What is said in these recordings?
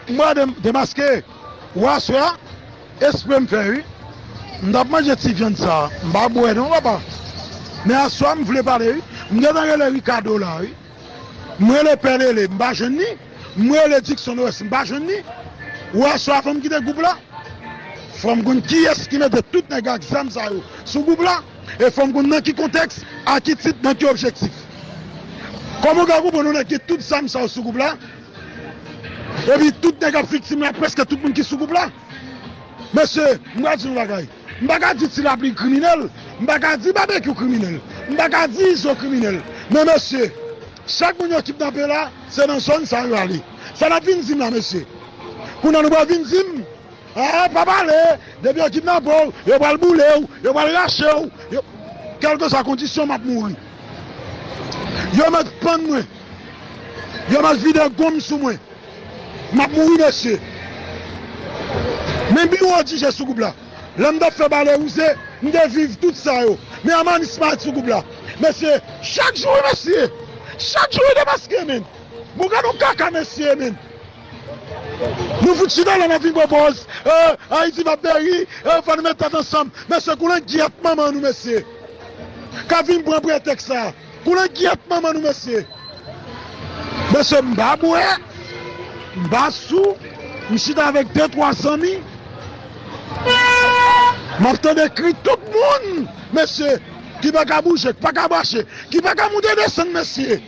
Mwen demaske ou aswè a espre m fè wi m tap manje ti vyann sa m pa bwè non papa men aswè m vle pale wi m gentan rele Ricardo la wi m rele pè lele m pa jwenn li m rele Dickson Oreste m pa jwenn li ou aswè a fòm kite gwoup la fòm konn kiyès ki mete tout nèg ak zam sa yo sou gwoup la. E fòm konn nan ki kontèks, a ki tit, nan ki objektif. Kòman ou ka konprann yon nèg gen tout zam sa yo sou gwoup la, epi tout nèg ap viktim la, prèske tout moun ki sou gwoup la? Mesye, m pral di nou yon bagay, m pa ka di Ti Lapli kriminèl, m pa ka di Babekyou kriminèl, m pa ka di Izo kriminèl, men mesye, chak moun yo kipnape la, se nan zòn sa yo ale. Sa n ap vin di m la mesye? Kounye a nou pral vin di m? Eeh pa pale, depi yo kidnape w, yo pral boule w, yo pral rache w, yo. Kèlkeswa kondisyon m ap mouri. Yo mèt pann mwen, yo mèt vide gonm sou mwen, m ap mouri mesye. Men biwo ou di je sou gwoup la, lè m t ap fè bale wouze, m te viv tout sa yo, men Amanis pa sou gwoup la mesye. Chak jou wi mesye, chak jou wi depaske men. Bon gad on kaka mesye men. Nou fout chita la nap vin pran pòz eeh ayiti va peri eeh fò nou met tèt ansanm mesye koulen gyèt manman nou mesye kap vin pran pretèks sa koulen gyèt manman nou mesye mesye m pa bwè m pa sou m chita avèk de twa zanmi map tande kri tout moun mesye ki paka bouje k paka mache ki paka moute desann mesye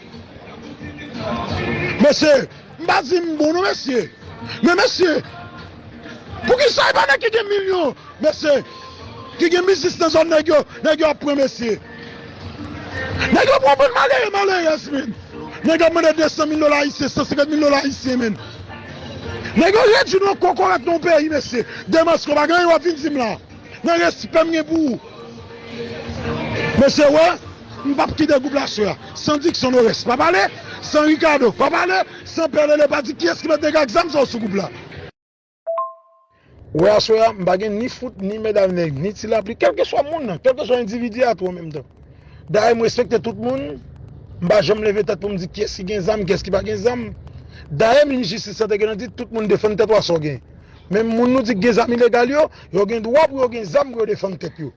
mesye. M pa di m bon non mesye. Men mesye Poukisa epa nèg ki gen milyon mesye ki gen biznis nan zòn nèg yo nèg yo ap pran mesye Nèg yo pran anpil malere malerèz menn Nèg yo ap mande 200 mil dola ayisyen 150 mil dola ayisyen menn Nèg yo redwi nou an kokorat nan yon peyi mesye Demasko pa gen anyen wap vin di m la. Nan respè m gen pou ou mesye wè m pap kite gwoup la swa san Dickson Norès pa pale san Ricardo pa pale san Pè Lele pa di kiyès ki met nèg ak zam sa yo sou gwoup la. Wè aswè a m pa gen ni fout ni mèd avk nèg ni ti lapli kèlkeswa moun nan kèlkeswa endividi a tou an menm tan dayè m respekte tout moun m pa janm leve tèt pou m di kiyès ki gen zam kiyès ki pa gen zam dayè minis jistis la te gentan di tout moun defann tèt ou a sa w gen Menm moun nou di ki gen zam ilegal yo, yo gen dwa pou yo gen zam pou yo defann tèt yo.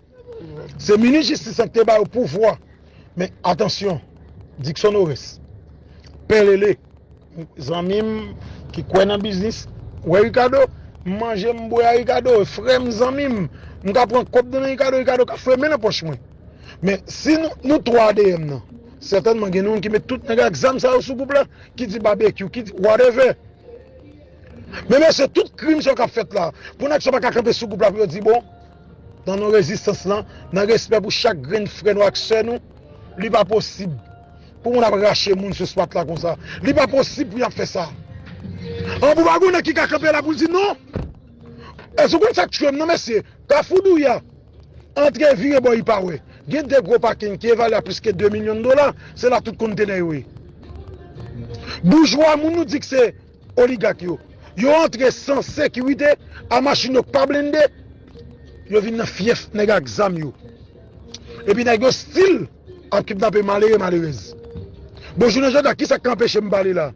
Se minis jistis lan ki te ba yo pouvwa. Men, atansyon, Dickson Oreste, Pè Lele, zanmi m ki kwè nan biznis, wè Ricardo, m manje m bwè a Ricardo, e frè m, zanmi m, m ka pran kòb nan men Ricardo, Ricardo ka foure men nan pòch mwen. Men, si nou 3 a dèyè m nan, sètènman gen youn ki met tout nèg ak zam sa yo sou gwoup la, ki di Babekyou, ki di whatever. Men mesye tout krim sa yo kap fèt la pou nèg sa yo pa ka kanpe sou gwoup la pou yo di bon nan non rezistans lan nan respè pou chak grenn frè nou ak sè nou li pa posib pou moun ap rache moun sou swat la konsa li pa posib pou yap fè sa an pou pa gon nèg ki ka kanpe la pou l di non èske ou konn sak tchwem nan mesye kafou douya antre vire bò ipa wè gen de gwo pakin ki evalye a plis ke 2 milyon dola se la tout kontenè yo ye boujwa moun nou di k se Oligak yo, yo antre san sekirite a machin yo pa blende, yo vin nan fyèf nèg ak zam yo. Epi nèg yo stil ap kidnape malere malerèz. Bon jounen jodi a kisa k ka anpeche m pale la?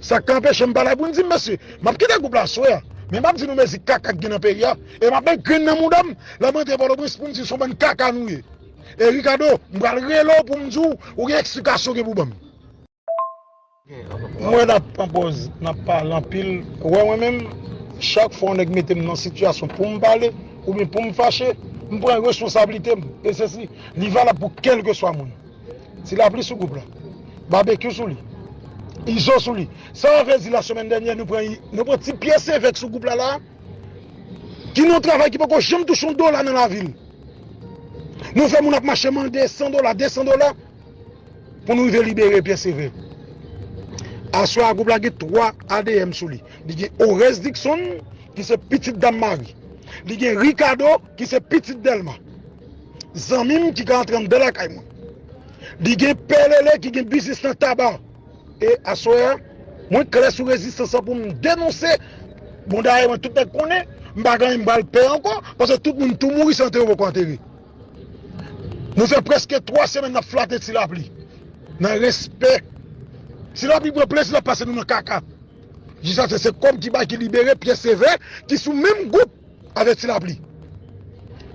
Sa k ka anpeche m pale la pou n di mesye, m ap kite gwoup la aswè a, men m ap di nou mezi kaka k gen nan peyi a, e m ap met grenn nan mouda m lè m rantre Pòtoprens pou m di se yon bann kaka nou ye. E Ricardo, m pral rele w pou m di w ou gen eksplikasyon ou gen pou w ban m. M wè nap pran pòz nap pale anpil wè mwen menm chak fwa yon nèg metem nan sitiyasyon poum pale oubyen poum fache m pran responsablitem e se si li valab pou kèlkeswa moun ti lapli sou gwoup la babekyou sou li izo sou li sa mwen vle di la semèn dènyè nou pran nou pran ti pyè sevèk sou gwoup la la ki nan yon travay ki poko janm touche yon dola nan lavil nou fè moun ap mache mande 100 dola 200 dola. pou nou rive libere Pierre Sévère. Aswè a gwoup la gen 3 adm sou li. Li gen Oreste Dickson ki se pitit Dam Mari. Li gen Ricardo ki se pitit Delma. Zanmi m ki ka antre anndan lakay mwen. Li gen Pè Lele ki gen biznis nan taba. E aswè a, mwen klè sou rezistans la pou m denonse. Bon dayè mwen tout nèg konnen, m pa gen anyen m pral pè ankò, paske tout moun tou mouri san antere yo poko antere. Nou fè prèske 3 semèn nap flate ti lapli nan respè Ti lapli pran plezi lap pase nou nan kaka Jisas fè se kòm ki bay ki libere pyè sevè ki sou menm gwoup avèk ti lapli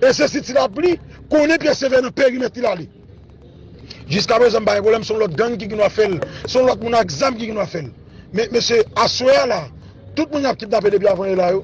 E se si ti lapli konnen pyè sevè nan perimèt li lale Jiska prezan m pa gen pwoblèm son lòt gang ki gendwa fèl son lòt moun ak zam ki gendwa fèl Men mesye aswè a la tout moun yap kidnape depi avan e la yo.